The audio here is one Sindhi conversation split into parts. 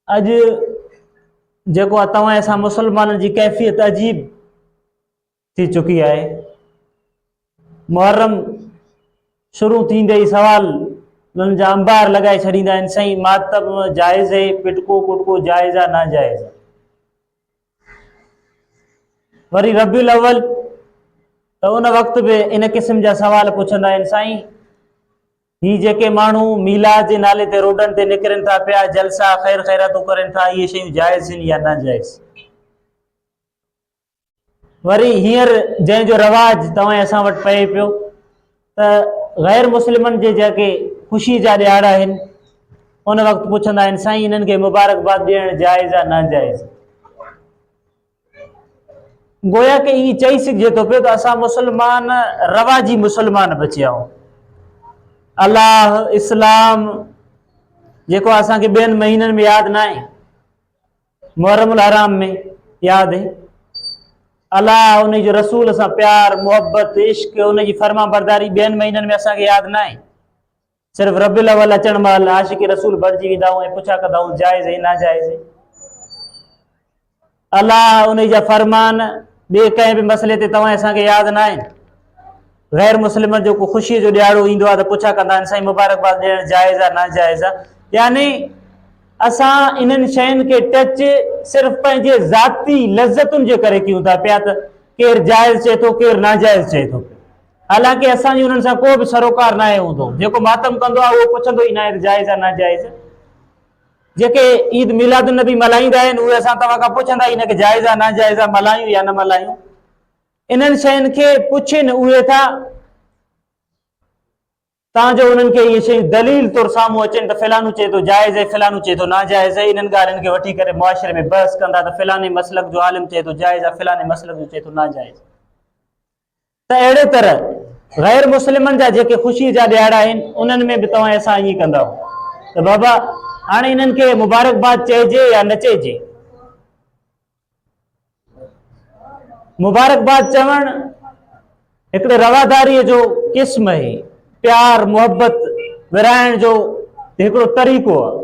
اڄ جيڪو آ توهان اسان مسلمانن جي ڪيفيت عجيب ٿي چڪي آهي محرم شروع ٿيندي ئي سوال انهن جا انبار لڳائي ڇڏيندا آهن سائين ماتم جائز اهي پٽڪو پٽڪو جائز آ ناجائز آ وري ربي الاول ته ان وقت به ان قسم جا سوال پڇندا آهن سائين هي جيڪي ماڻهو ميلاد جي نالي تي روڊن تي نڪرن ٿا پيا، جلسا، خير خيراتون ڪرن ٿا، اهي شيون جائز هن يا ناجائز؟ وري هينئر جنهن جو رواج توهان اسان وٽ پئي پيو ته غير مسلمن جي جيڪي خوشي جا ڏيهاڙا آهن ان وقت پڇندا آهن سائين انهن کي مبارڪباد ڏيڻ جائز آ ناجائز گويا ڪي ايئن چئي سگهجي ٿو پيو ته اسان مسلمان رواجي مسلمان بچيا آهيون الله اسلام جيڪو اسان کي ٻين مهينن ۾ ياد نه آهي محرم الحرام ۾ ياد آهي الله ان جو رسول سان پيار محبت عشق ان جي فرما برداري ٻين مهينن ۾ اسان کي ياد نه آهي صرف ربيع الاول اچڻ مهل عاشق رسول بڻجي ويندا آهيون ۽ پڇا ڪندا آهيون جائز ۽ ناجائز الله ان جا فرمان ٻئي ڪنهن به مسئلي تي توهان اسان کي ياد نه آهن غير مسلمن جو کو خوشيء جو ڏياڙو ايندو آهي ته پڇا ڪندا آهن سائين مبارڪباد ڏيڻ جائز آهي ناجائز آهي يعني اسان انهن شين کي ٽچ صرف پنهنجي ذاتي لذتن جي ڪري ڪيون ٿا پيا ته ڪير جائز چئي ٿو ڪير ناجائز چئي ٿو حالانڪ اسان جي انهن سان ڪو به سروڪار ناهي هوندو. جيڪو ماتم ڪندو آهي اهو پڇندو ئي ناهي ته جائز آهي ناجائز. جيڪي عيد ميلاد النبي ملهائيندا آهن اهي اسان توهان کان پڇندا ئي نه ڪي جائز آهي ناجائز آهي ملهايون يا نه ملهايون. انهن شين کي پڇين اهي ٿا تان جو انهن کي اهي شيون دليل طور سامهون اچن ته فلانو چئي ٿو جائز آهي فلانو چئي ٿو ناجائز آهي انهن ڳالهين کي وٺي ڪري معاشري ۾ بحث ڪندا ته فلاني مسلڪ جو عالم چئي ٿو جائز آهي فلاني مسلڪ جو چئي ٿو ناجائز. ته اهڙي طرح غير مسلمن جا جيڪي خوشي جا ڏهاڙا آهن انهن ۾ به توهان سان ائين ڪندا ته بابا هاڻي انهن کي مبارڪباد چئجي يا نه چئجي مبارڪباد چوڻ هڪڙي رواداري جو قسم آهي پيار محبت ورهائڻ جو هڪڙو طريقو آهي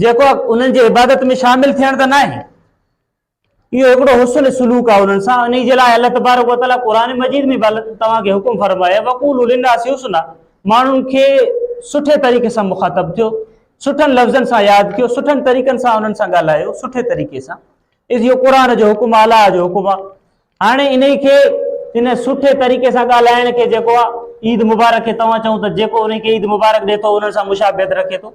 جيڪو انهن جي عبادت ۾ شامل ٿيڻ ته ناهي اهو هڪڙو حسن سلوڪ آهي انهن سان انهي جي لاء الله تبارڪ وتعالي قرآن مجيد ۾ توهان کي حڪم فرمايا وقولوا للناس حسنا ماڻهن کي سٺي طريقي سان مخاطب ٿيو سٺن لفظن سان ياد ڪيو سٺن طريقن سان انهن سان ڳالهايو سٺي طريقي سان اهو قرآن جو حڪم اعليٰ جو حڪم آهي هاڻي انهي کي ان سٺي طريقي سان ڳالهائڻ کي جيڪو عيد مبارڪ کي توهان چئو ته جيڪو انهي کي عيد مبارڪ ڏي ٿو انهن سان مشابهت رکي ٿو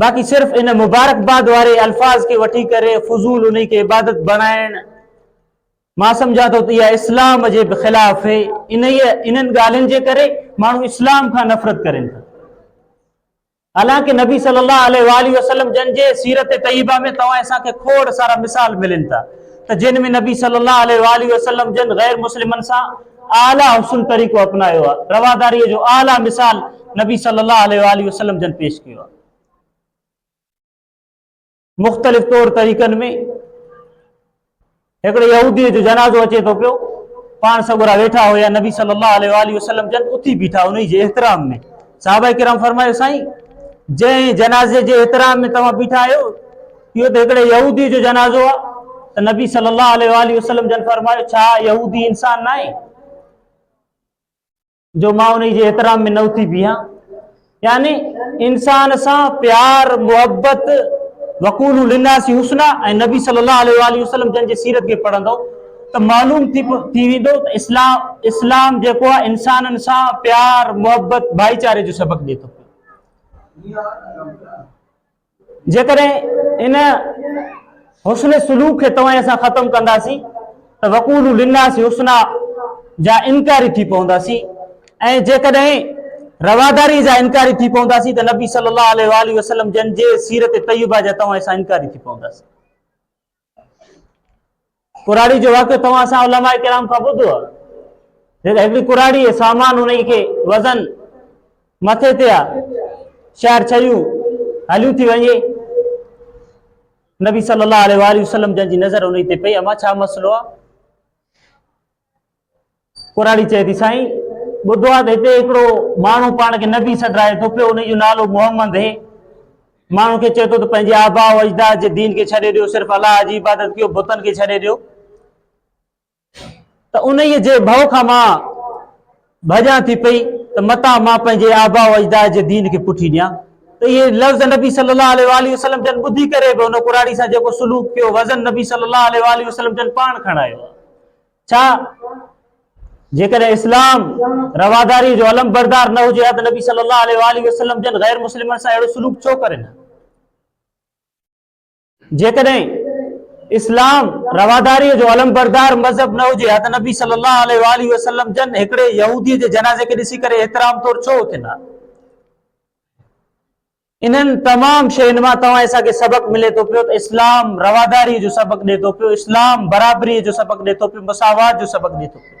باقي صرف ان مبارڪباد واري الفاظ کي وٺي ڪري فضول انهي کي عبادت بڻائڻ مان سمجھان ٿو ته اها اسلام جي به خلاف هي انهي انهن ڳالهين جي ڪري ماڻهو اسلام کان نفرت ڪرين ٿا حالانڪه نبي صلي الله عليه واله وسلم جن جي سيرت طيبه ۾ توهان اسان کي کوڙ سارا مثال ملن ٿا ته جن ۾ نبي صلي الله عليه واله وسلم جن غير مسلمن سان اعليٰ حسن طريقو اپنايو آهي. رواداريء جو اعليٰ مثال نبي صلّي اللّٰه عليه واٰله وسلّم جن پيش ڪيو آهي. مختلف طور طريقن ۾ هڪڙي يهوديء جو جنازو اچي ٿو پيو، پاڻ سڳورا ويٺا هيا، نبي صلّي اللّٰه عليه واٰله وسلّم جن اٿي بيٺا، انهي جي احترام ۾ صحابه ڪرام فرمايو سائين جنهن جنازي جي احترام ۾ توهان بيٺا آهيو، اهو ته هڪڙي يهودي جو جنازو آ ته نبي صلي الله عليه واله وسلم جن فرمايو ڇا يهودي انسان ناهي جو مان انهي جي احترام ۾ نه اٿي بيهان يعني انسان سان پيار محبت وقول للناس حسنا ۽ نبي صلي الله عليه واله وسلم جن جي سيرت کي پڙهندو ته معلوم ٿي ٿي ويندو ته اسلام اسلام جيڪو آ انسانن سان پيار محبت ڀائيچاري جو سبق ڏي ٿو جيڪڏهن ان حسن سلوڪ کي توهان اسان ختم ڪنداسين ته وقولو للناس حسنا جا انڪاري ٿي پونداسين ۽ جيڪڏهن رواداري جا انڪاري ٿي پونداسين ته نبي صلي الله عليه وآله وسلم جن جي سيرت طيبه جا توهان اسان انڪاري ٿي پونداسين ڪراڙي جو واقعو توهان اسان علماء ڪرام کان ٻڌو آهي جيڪا هڪڙي ڪراڙي سامان ان کي وزن مٿي تي آهي شهر ڇيون هليون ٿي وڃي نبي صلي الله عليه وسلم جن جي نظر ان تي پئي اما ڇا مسئلو آهي ڪراڙي چئي ٿي سائين ٻڌو آ ته هتي هڪڙو ماڻهو پاڻ کي نبي سڏرائي ٿو پيو ان جو نالو محمد هي ماڻهو کي چئي ٿو ته پنهنجي آبا و اجداد جي دين کي ڇڏي ڏيو صرف الله جي عبادت ڪيو بتن کي ڇڏي ڏيو ته انهيء جي ڀؤ کان مان ڀڄان ٿي پئي ته متان مان پنهنجي آباء و اجداد جي دين کي پٺي ڏيان ته اهي لفظ نبي صلي الله عليه واٰله وسلم جن ٻڌي ڪري به ان ڪراڙي سان جيڪو سلوڪ ڪيو وزن نبي صلي الله عليه واٰله وسلم جن پاڻ کڻايو ڇا جيڪڏهن اسلام رواداري جو علم بردار نه هجي ها ته نبي صلي الله عليه واٰله وسلم جن غير مسلمن سان اهڙو سلوڪ ڇو ڪرن جيڪڏهن اسلام رواداريء جو علمبردار مذهب نه هجي ها ته نبي صلي الله عليه واٰله وسلم جن هڪڙي يهوديء جي جنازي کي ڏسي ڪري احترام طور ڇو اٿن ها؟ انهن تمام شين مان توهان اسان کي سبق ملي ٿو پيو ته اسلام رواداري جو سبق ڏي ٿو پيو اسلام برابري جو سبق ڏي ٿو پيو مساوات جو سبق ڏي ٿو پيو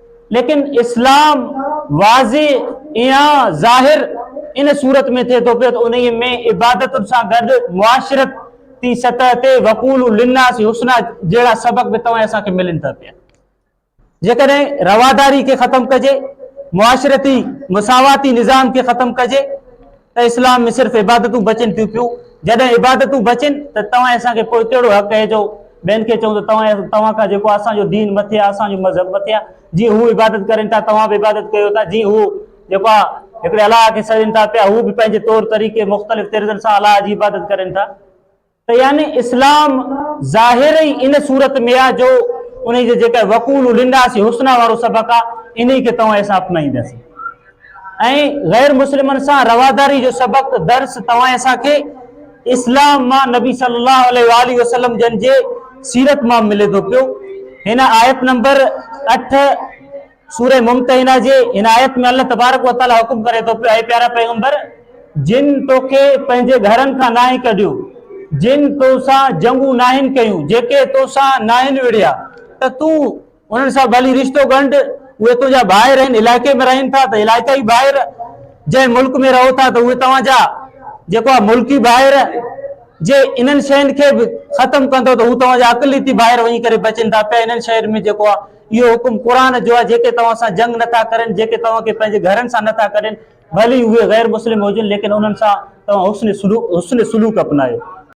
ليڪن اسلام واضح ايا ظاهر ان صورت ۾ ٿئي ٿو پيو ته انهي ۾ عبادتن سان گڏ معاشرت تي سطح تي وقول للناس حسنا جهڙا سبق به توهان اسان کي ملن ٿا پيا جيڪڏهن رواداري کي ختم ڪجي معاشرتي مساواتي نظام کي ختم ڪجي ته اسلام ۾ صرف عبادتون بچن ٿيون پيون، جڏهن عبادتون بچن ته توهان اسان کي پوء ڪهڙو حق اهي جو ٻين کي چئون ته توهان توهان کان جيڪو اسان جو دين مٿي آهي، اسان جو مذهب مٿي آهي، جيئن هو عبادت ڪرين ٿا توهان به عبادت ڪيو ٿا، جيئن هو جيڪو آهي هڪڙي الله کي سڏين ٿا پيا هو به پنهنجي طور طريقي مختلف طرزن سان الله جي عبادت ڪرين ٿا. يعني اسلام ظاهر ئي ان صورت ۾ آ جو انهي جي جيڪا وقول للناس حسنا وارو سبق آ انهي کي توهان اسان اپنائينداسين ۽ غير مسلمن سان رواداري جو سبق درس توهان اسان کي اسلام مان نبي صلي الله عليه واله وسلم جن جي سيرت مان ملي ٿو پيو هن آيت نمبر 8 سورة ممتحنة جي هن آيت ۾ الله تبارڪ و تعالي حڪم ڪري ٿو پيو اي پيارا پيغمبر جن توکي پنهنجي گهرن کان ناهي ڪڍيو جن تو سان جنگون ناهن ڪيون جيڪي تو سان ناهن وڙهيا ته تون انهن سان ڀلي رشتو ڳنڍ اهي تنهنجا ڀائر آهن علائقي ۾ رهن ٿا ته علائقائي ڀائر جنهن ملڪ ۾ رهو ٿا ته اهي توهان جا جيڪو آهي ملڪي ڀائر جي انهن شين کي به ختم ڪندو ته هو توهان جا اقليتي ڀائر وڃي ڪري بچن ٿا پيا انهن شين ۾ جيڪو آهي اهو حڪم قرآن جو آهي، جيڪي توهان سان جنگ نه ٿا ڪرين، جيڪي توهان کي پنهنجي گهرن سان نه ٿا ڪڍين، ڀلي اهي غير مسلم هجن، ليڪن انهن سان توهان حسن سلوڪ اپنايو.